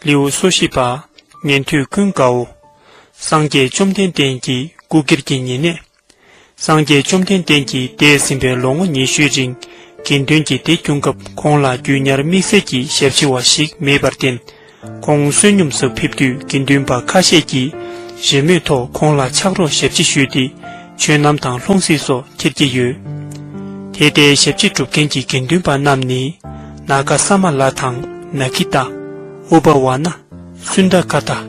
ལེའུ་སོ་བཞི་པ་ཉན་ཐོས་ཀུན་དགའ་བོ། སངས་རྒྱས་བཅོམ་ལྡན་འདས་ཀྱིས་སྐུ་སྒེར་གྱི་ཉེ་གནས་སངས་རྒྱས་བཅོམ་ལྡན་འདས་ཀྱིས་འདས་ཟིན་པའི་ལོ་ངོ་ཉི་ཤུའི་རིང་དགེ་འདུན་གྱི་སྡེ་བསྐྱུངས་སྐབས་ཁོང་ལ་རྒྱུས་ཉར་དམིགས་བསལ་གྱི་ཞབས་ཕྱི་བ་ཞིག་མེད་པར་བརྟེན། ཁོང་བསོད་སྙོམས་སུ་ཕེབས་དུས་དགེ་འདུན་པ་ཁ་ཤས་ཀྱིས་རེ་མོས་ཐོག་ཁོང་ལ་ཕྱག་རོགས་ཞབས་ཕྱི་ཞུས་ཏེ་ཆོས་རྣམ་དང་ལྷུང་བཟེད་སོགས་ཁྱེར་གྱི་ཡོད། དེ་ལྟའི་ཞབས་ཕྱི་སྒྲུབ་མཁན་གྱི་དགེ་འདུན་པ་རྣམས་ནི། ན་ག་ས་མ་ལ་དང་ནཱ་ཁི་ཏཱ། ཨུ་བ་བ་ན། སུནྡ་ཀ་ཏཱ།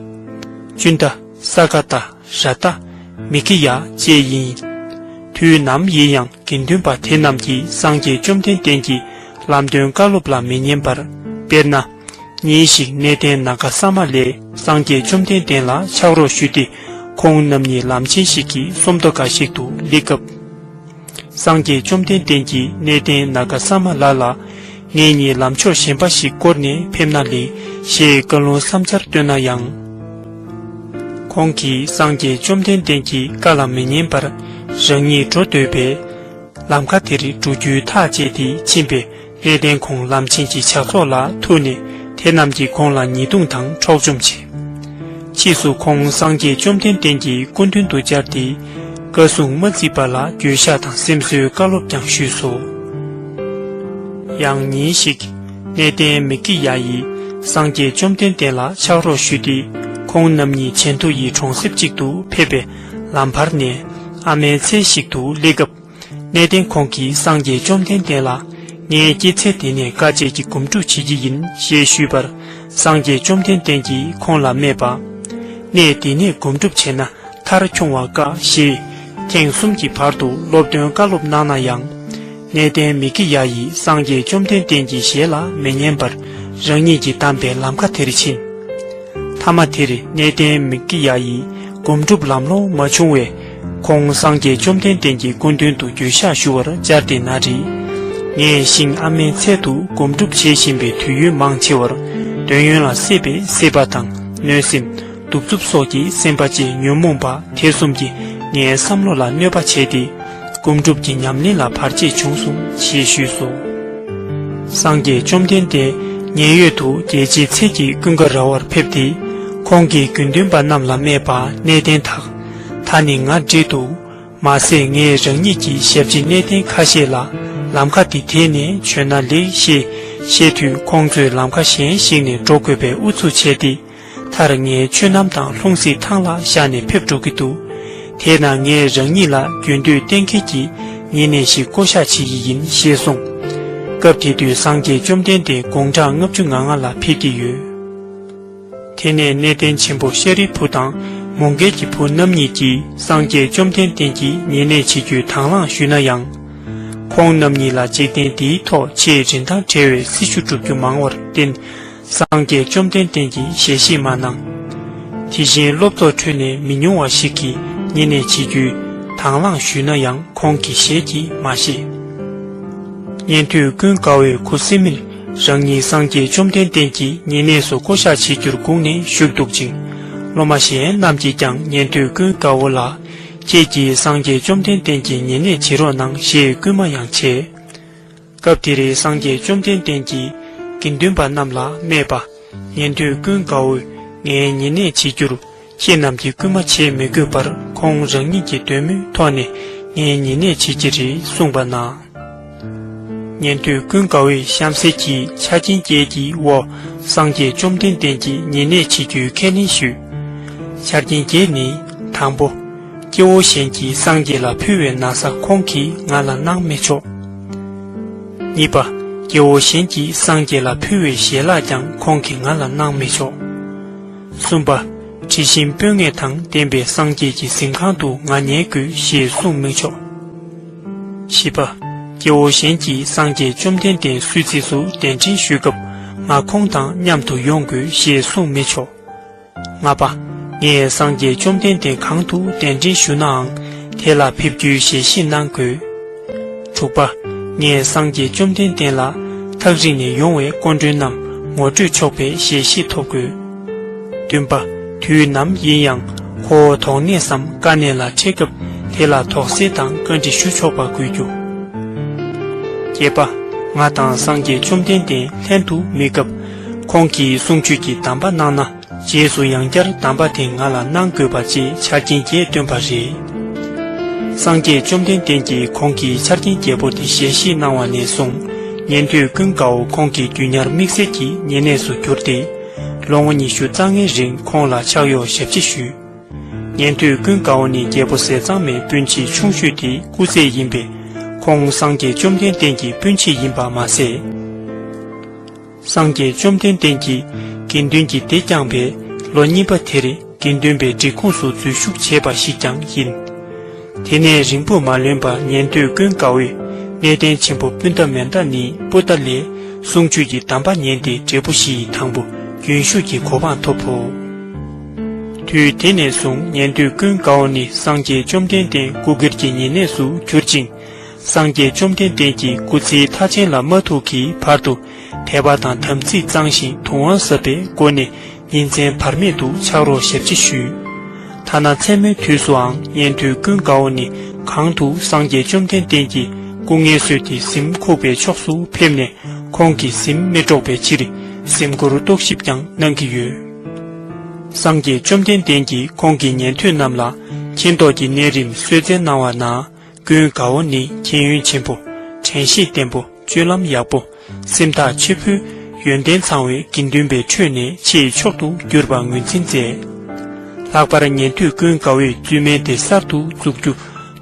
ཅུནྡ། ས་ཀ་ཏཱ། ཞྭ་རྟ། མི་ཁི་ཡཱ་བཅས་ཡིན། དུས་ནམ་ཡིན་ཡང་དགེ་འདུན་པ་དེ་རྣམས་ཀྱིས་སངས་རྒྱས་བཅོམ་ལྡན་འདས་ཀྱི་ལམ་སྟོན་བཀའ་སློབ་ལ་མི་ཉན་པར། དཔེར་ན། ཉིན་ཞིག་གནས་བརྟན་ན་ག་ས་མ་ལས་སངས་རྒྱས་བཅོམ་ལྡན་འདས་ལ་ཕྱག་རོགས་ཞུས་ཏེ་ཁོང་རྣམ་གཉིས་ལམ་ཆེན་ཞིག་གི་སུམ་མདོ་འགའ་ཞིག་ཏུ་སླེབས་སྐབས། སངས་རྒྱས་བཅོམ་ལྡན་བསྟན་གྱི་གནས་བརྟན་ན་ག་ས་མ་ལ་ལ། ངེད་གཉིས་ལམ་ཕྱོགས་གཞན་པ་ཞིག་བསྐོར་ནས་ཕེབས་ན་ལེགས། ཞེས་བཀའ་ལུང་བསམ་འཆར་བཏོན་ན་ཡང། ཁོང་གིས་སངས་རྒྱས་བཅོམ་ལྡན་བསྟན་གྱི་བཀའ་ལ་མི་ཉན་པར་རང་ཉིད་འགྲོ་འདོད་པས། ལམ་ཁ་དེར་འགྲོ་རྒྱུའི་ཐག་བཅད་དེ་ཕྱིན་པས། གནས་བརྟན་ཁོང་ལམ་ཆེན་གྱི་ཇག་ཚོགས་ལ་ཐུག་ནས་དེ་རྣམས་ཀྱིས་ཁོང་ལ་ཉེས་རྡུང་དང་འཕྲོག་བཅོམ་བྱས། ཕྱིས་སུ་ཁོང་སངས་རྒྱས་བཅོམ་ལྡན་འདས་ཀྱི་སྐུ་མདུན་དུ་བཅར་ཏེ། བཀའ་སྲུང་མ་རྩིས་པ་ལ་འགྱོད་བཤགས་དང་སེམས་གསོའི་བཀའ་སློབ་ཀྱང་ཞུས་སོ། ཡང་ཉིན་ཞིག། གནས་བརྟན་མི་ཀི་ཡཱ་ཡིས་སངས་རྒྱས་བཅོམ་ལྡན་འདས་ལ་ཕྱག་རོགས་ཞུས་ཏེ་ཁོང་རྣམ་གཉིས་ཆན་ཐུ་ཡི་གྲོང་གསེབ་ཅིག་ཏུ་ཕེབས་པའི་ལམ་བར་ནས་ཨ་མའི་མཚན་ཞིག་ཏུ་སླེབས་སྐབས། གནས་བརྟན་ཁོང་གིས་སངས་རྒྱས་བཅོམ་ལྡན་འདས་ལ། ངས་སྐྱེད་ཚལ་དེ་ནས་དཀའ་སྤྱད་ཀྱི་སྒོམ་སྒྲུབ་བྱེད་ཀྱི་ཡིན་ཞེས་ཞུས་པར། སངས་རྒྱས་བཅོམ་ལྡན་འདས་ཀྱིས་ཁོང་ལ་སྨྲས་པ། གནས་འདི་ནས་སྒོམ་སྒྲུབ་བྱས་ན་མཐར་འཁྱོང་བ་དཀའ་ཞེས། ཐེངས་གསུམ་གྱི་བར་དུ་སློབ་སྟོན་བཀའ་སློབ་གནང་ན་ཡང། གནས་བརྟན་མི་དགེ་ཡ་ཡིས་སངས་རྒྱས་བཅོམ་ལྡན་འདས་ཀྱི་ཞལ་ལ་མི་ཉན་པར་རང་ཉིད་ཀྱིས་གདམས་པའི་ལམ་ཁ་དེར་ཕྱིན། མཐའ་མ་དེར་གནས་བརྟན་མི་དགེ་ཡ་ཡིས་སྒོམ་སྒྲུབ་ལམ་ལོང་མ་བྱུང་བས། ཁོང་སངས་རྒྱས་བཅོམ་ལྡན་འདས་ཀྱི་སྐུ་མདུན་དུ་རྒྱུན་བཤགས་ཞུ་བར་བཅར་ཏེ་ན་རེ། ངས་ཤིང་ཨ་མའི་ཚལ་དུ་སྒོམ་སྒྲུབ་བྱེད་བཞིན་པའི་དུས་ཡུན་མང་ཆེ་བར་འདོད་ཡོན་ལ་སྲེད་པས་སྲེད་པ་དང་གནོད་སེམས། གདུག་རྩུབ་སོགས་ཀྱི་སེམས་པ་བཅས་ཉོན་མོངས་པ་དེ་གསུམ་གྱིས་ངའི་བསམ་བློ་ལ་གནོད་པ་བྱས་ཏེ། སྒོམ་སྒྲུབ་ཀྱི་ཉམས་ལེན་ལ་བར་ཆད་བྱུང་གསུང་ཞེས་ཞུས་སོ། སངས་རྒྱས་བཅོམ་ལྡན་འདས་མཉན་ཡོད་དུ་རྒྱལ་སྤྱིའི་ཚལ་གྱི་ཀུན་དགའ་ར་བར་ཕེབས་ཏེ། ཁོང་གིས་དགེ་འདུན་པ་རྣམས་ལ་སྨྲས་པ་གནས་བརྟན་དག་ད་ནི་ང་འབྲེལ་འདུག་མ་ཟད་ངས་རང་ཉིད་ཀྱི་ཞབས་ཕྱི་གནས་བརྟན་ཁ་ཤས་ལ་ལམ་ཁ་འདི་དེད་ནས་བྱོན་ན་ལེགས་ཞེས་བཤད་དུས་ཁོང་ཚོས་ལམ་ཁ་གཞན་ཞིག་ནས་འགྲོ་དགོས་པའི་ཨུ་ཚུགས་བྱས་ཏེ། མཐར་ངའི་ཆོས་ནམ་དང་ལྷུང་བཟེད་ཐང་ལ་བཞག་ནས་ཕེབས་འགྲོ་གི་འདུག་དེས་ན་ངས་རང་ཉིད་ལ་རྒྱུན་སྡོད་གཏན་འཁེལ་གྱིས་ཉེ་གནས་ཤིག་བསྐོ་བཞག་བྱེད་ཀྱི་ཡིན་ཞེས་གསུངས། སྐབས་དེ་དུས་སངས་རྒྱས་བཅོམ་ལྡན་འདས་དགུང་གྲངས་ལྔ་བཅུ་ང་ལྔ་ལ་ཕེབས་ཀྱི་ཡོད། དེ་ནས་གནས་བརྟན་ཆེན་པོ་ཤཱ་རིའི་བུ་དང་མོའུ་འགལ་གྱི་བུ་རྣམ་གཉིས་ཀྱིས་སངས་རྒྱས་བཅོམ་ལྡན་བརྟན་གྱིས་ཉེ་གནས་བྱེད་རྒྱུའི་དང་བླངས་ཞུས་ན་ཡང། ཁོང་རྣམ་གཉིས་ལ་འཇིག་རྟེན་འདིའི་ཐོག་ཆེས་རིན་ཐང་བྲལ་བའི་སྲི་ཞུ་སྒྲུབ་རྒྱུ་མང་བར་བརྟེན། སངས་རྒྱས་བཅོམ་ལྡན་བརྟན་གྱིས་ཞལ་བཞེས་མ་གནང། དེ་བཞིན་སློབ་ཚོགས་ཁྲོད་ནས་མི་ཉུང་བ་ཞིག་གིས་ཉེ་གནས་བྱེད་རྒྱུའི་དང་བླངས་ཞུས་ན་ཡང་ཁོང་གིས་ཞལ་གྱིས་མ་བཞེས། ཉན་ཐོས་ཀུན་དགའ་བོའི་གུ་སེ་མིར། རང་ཉིད་སངས་རྒྱས་བཅོམ་ལྡན་འདས་ཀྱི་ཉེ་གནས་སུ་བསྐོ་བཞག་བྱེད་རྒྱུར་བསྒུགས་ནས་བཞུགས་འདུག་ཅིང། སློབ་མ་གཞན་རྣམས་ཀྱིས་ཀྱང་ཉན་ཐོས་ཀུན་དགའ་བོ་ལ། ཁྱེད་ཀྱིས་སངས་རྒྱས་བཅོམ་ལྡན་འདས་ཀྱི་ཉེ་གནས་བྱེད་རོགས་གནང་ཞེས་བསྐུལ་མ་ཡང་བྱས། སྐབས་དེ་རེ་སངས་རྒྱས་བཅོམ་ལྡན་འདས་ཀྱིས་དགེ་འདུན་པ་རྣམས་ལ་སྨྲས་པ། ཉན་ཐོས་ཀུན་དགའ་བོ། ངའི་ཉེ་གནས་བྱེད་རྒྱུར་ཁྱེད་རྣམས་ཀྱིས་སྐུལ་མ་བྱེད་མི་དགོས་པར་ཁོང་རང་ཉིད་ཀྱི་འདོད་མོས་ཐོག་ནས་ངའི་ཉེ་གནས་བྱེད་ཀྱི་རེད་གསུངས་པ་ན། ཉན་ཐོས་ཀུན་དགའ་བོས་གཤམ་གསལ་གྱི་ཆ་རྐྱེན་བརྒྱད་ཀྱི་འོག་སངས་རྒྱས་བཅོམ་ལྡན་འདས་ཀྱི་ཉེ་གནས་བྱེད་རྒྱུའི་ཁས་ལེན་ཞུས། ཆ་རྐྱེན་བརྒྱད་ནི། དང་པོ། སྐྱེ་བོ་གཞན་གྱིས་སངས་རྒྱས་ལ་ཕུལ་བའི་ན་བཟའ་ཁོང་གིས་ང་ལ་གནང་མི་ཆོག། གཉིས་པ། སྐྱེ་བོ་གཞན་གྱིས་སངས་རྒྱས་ལ་ཕུལ་བའི་ཞལ་ལག་ཀྱང་ཁོང་གིས་ང་ལ་གནང་མི་ཆོག། གསུམ་པ། དྲི་ཞིམ་སྤོས་ངད་དང་ལྡན་པའི་སངས་རྒྱས་ཀྱི་གཟིམས་ཁང་དུ་ང་ཉལ་དགོས་ཞེས་གསུངས་དམིགས་ཆོག། བཞི་པ། སྐྱེ་བོ་གཞན་གྱིས་སངས་རྒྱས་བཅོམ་ལྡན་འདས་སུས་རྩིས་སུ་གདན་འདྲེན་ཞུས་སྐབས་ང་ཁོང་དང་མཉམ་དུ་ཡོང་དགོས་ཞེས་གསུངས་མི་ཆོག། ལྔ་པ། ངས་སངས་རྒྱས་བཅོམ་ལྡན་འདས་གང་དུ་གདན་འདྲེན་ཞུ་ནའང་དེ་ལ་ཕེབས་རྒྱུའི་ཞལ་བཞེས་གནང་དགོས། དྲུག་པ། ངས་སངས་རྒྱས་བཅོམ་ལྡན་འདས་ལ། ཐག་རིང་ནས་ཡོང་བའི་སྐོར་འགྲོན་རྣམས་ངོ་སྤྲོད་ཆོག་པའི་ཞལ་བཞེས་ཐོབ་དགོས། བདུན་པ། དུས་ནམ་ཡིན་ཡང་ཁོ་བོ་དོགས་གནས་སམ་དཀའ་གནས་ལ་འཕྲད་སྐབས་དེ་ལ་དོགས་སེལ་དང་བཀའ་འདྲི་ཞུ་ཆོག་པ་དགོས་རྒྱུ། བརྒྱད་པ། ང་དང་སངས་རྒྱས་བཅོམ་ལྡན་འདས་ལྷན་དུ་མེད་སྐབས། ཁོང་གིས་གསུང་ཆོས་ཀྱི་གདམས་པ་གནང་ན། རྗེས་སུ་ཡང་བསྐྱར་གདམས་པ་དེ་ང་ལ་གནང་དགོས་པ་ཅིག་ཆ་རྐྱེན་བརྒྱད་བཏོན་པ་རེད། སངས་རྒྱས་བཅོམ་ལྡན་འདས་ཀྱིས་ཁོང་གི་ཆ་རྐྱེན་བརྒྱད་པོ་དེ་ཞལ་བཞེས་གནང་བ་ནས་བཟུང་ཉན་ཐོས་ཀུན་དགའ་བོ་ཁོང་གི་རྒྱུད་ཉར་དམིགས་བསལ་གྱི་ཉེ་གནས་སུ་གྱུར་ཏེ། ལོ་ངོ་ཉི་ཤུ་རྩ་ལྔའི་རིང་ཁོང་ལ་ཕྱག་གཡོག་ཞབས་ཕྱི་ཞུས། ཉན་ཐོས་ཀུན་དགའ་བོ་ནི་རྒྱལ་པོ་ཟས་གཙང་མའི་སྤུན་མཆེད་ཆུང་ཤོས་དེའི་སྐུ་རྩེད་ཡིན་པས། ཁོང་སངས་རྒྱས་བཅོམ་ལྡན་འདས་ཀྱི་སྤུན་མཆེད་ཡིན་པ་མ་ཟད། སངས་རྒྱས་བཅོམ་ལྡན་འདས་ཀྱིས་དགེ་འདུན་གྱི་སྡེ་བསྐྱངས་པའི་ལོ་གཉིས་པ་དེར་དགེ་འདུན་པའི་འབྲི་ཁུངས་སུ་འཛུལ་ཞུགས་བྱས་པ་ཞིག་ཀྱང་ཡིན། དེ་ནས་རིང་པོ་མ་ལོན་པར་ཉན་ཐོས་ཀུན་དགའ་བོས་གནས་བརྟན་ཆེན་པོ་སྤུན་ཟླ་མན་དཱ་ནི་པུ་ཏཱ་ལའི་གསུང་ཆོས་ཀྱི་གདམས་པ་ཉན་ཏེ་འབྲས་བུ་བཞི་ཡི་དང་པོ་རྒྱུན་ཞུགས་ཀྱི་གོ་འཕང་ཐོབ་བོ། དུས་དེ་ནས་བཟུང་ཉན་ཐོས་ཀུན་དགའ་བོ་ནི་སངས་རྒྱས་བཅོམ་ལྡན་འདས་སྐུ་སྒེར་གྱི་ཉེ་གནས་སུ་གྱུར་ཅིང། སངས་རྒྱས་བཅོམ་ལྡན་འདས་ཀྱི་སྐུ་ཚེའི་མཐའ་ཅན་ལ་མ་ཐུག་གི་བར་དུ་དད་པ་དང་དམ་ཚིག་གཙང་ཞིང་དུག་དབང་ཟབ་པའི་སྒོ་ནས་ཉིན་མཚན་བར་མེད་དུ་ཕྱག་རོགས་ཞབས་ཕྱི་ཞུས། ཐ་ན་མཚན་མོའི་དུས་སུའང་གཉན་དུས་ཀུན་དགའ་བོ་ནི་གང་དུ་སངས་རྒྱས་བཅོམ་ལྡན་འདས་ཀྱི་སྐུ་ངལ་སོས་ཏེ་གཟིམ་ཁུག་པའི་ཕྱོགས་སུ་ཕེབས་ནས་ཁོང་གི་གཟིམ་སྨེ་དཀྲོགས་པའི་ཕྱིར་གཟིམ་སྒོར་རྟོག་ཞིབ་ཀྱང་གནང་གི་ཡོད། སངས་རྒྱས་བཅོམ་ལྡན་འདས་ཀྱིས་ཁོང་གི་ཉན་ཐོས་རྣམས་ལ་མཁྱེན་རྟོགས་ཀྱི་གནས་རིམ་གསོལ་སྩལ་གནང་བ་ན། ཀུན་དགའ་བོ་ནི་མཁྱེན་ཡོན་ཆེན་པོ། དྲན་ཤེས་བརྟན་པོ་སྤྱོད་ལམ་ཡག་པོ། སེམས་ཐག་ཆེ་བོ། ཡོན་ཏན་ཚང་བའི་དགེ་འདུན་པའི་ཁྲོད་ནས་ཆེས་མཆོག་ཏུ་གྱུར་པ་ངོས་འཛིན་མཛད། ལྷག་པར་ཉན་ཐོས་ཀུན་དགའ་བོས་བཙུན་མའི་སྡེ་གསར་དུ་འཛུགས་རྒྱུ་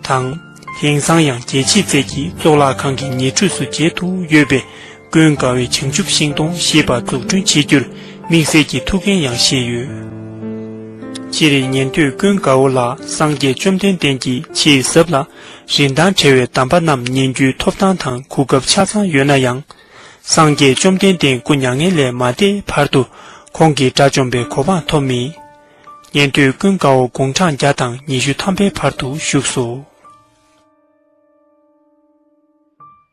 དང། དེང་སང་ཡང་རྒྱལ་ཕྱི་རྩལ་གྱི་གཙུག་ལག་ཁང་གི་ཉེ་འཁྲིས་སུ་མཇལ་དུ་ཡོད་པས་ཀུན་དགའ་བའི་བྱང་ཆུབ་ཤིང་སྡོང་ཞེས་པ་འཛུགས་སྐྲུན་བྱེད་རྒྱུར་དམིགས་བསལ་གྱི་ཐུགས་འགན་ཡང་བཞེས་ཡོད། སྤྱིར་རིགས་ངན་དུས་ཀུན་དགའ་བོ་ལ་སངས་རྒྱས་བཅོམ་ལྡན་འདས་ཀྱིས་ཆེས་ཟབ་ལ། རིན་ཐང་བྲལ་བའི་གདམས་པ་རྣམས་ཉན་རྒྱུའི་ཐོབ་ཐང་དང་གོ་སྐབས་ཆ་ཚང་ཡོད་ན་ཡང། སངས་རྒྱས་བཅོམ་ལྡན་འདས་སྐུ་མྱ་ངན་ལས་མ་འདས་བར་དུ་ཁོང་གིས་དགྲ་བཅོམ་པའི་གོ་འཕང་ཐོབ་མེད། ཉན་ཐོས་ཀུན་དགའ་བོ་དགུང་གྲངས་བརྒྱ་དང་ཉི་ཤུ་ཐམ་པའི་བར་དུ་བཞུགས་སོ།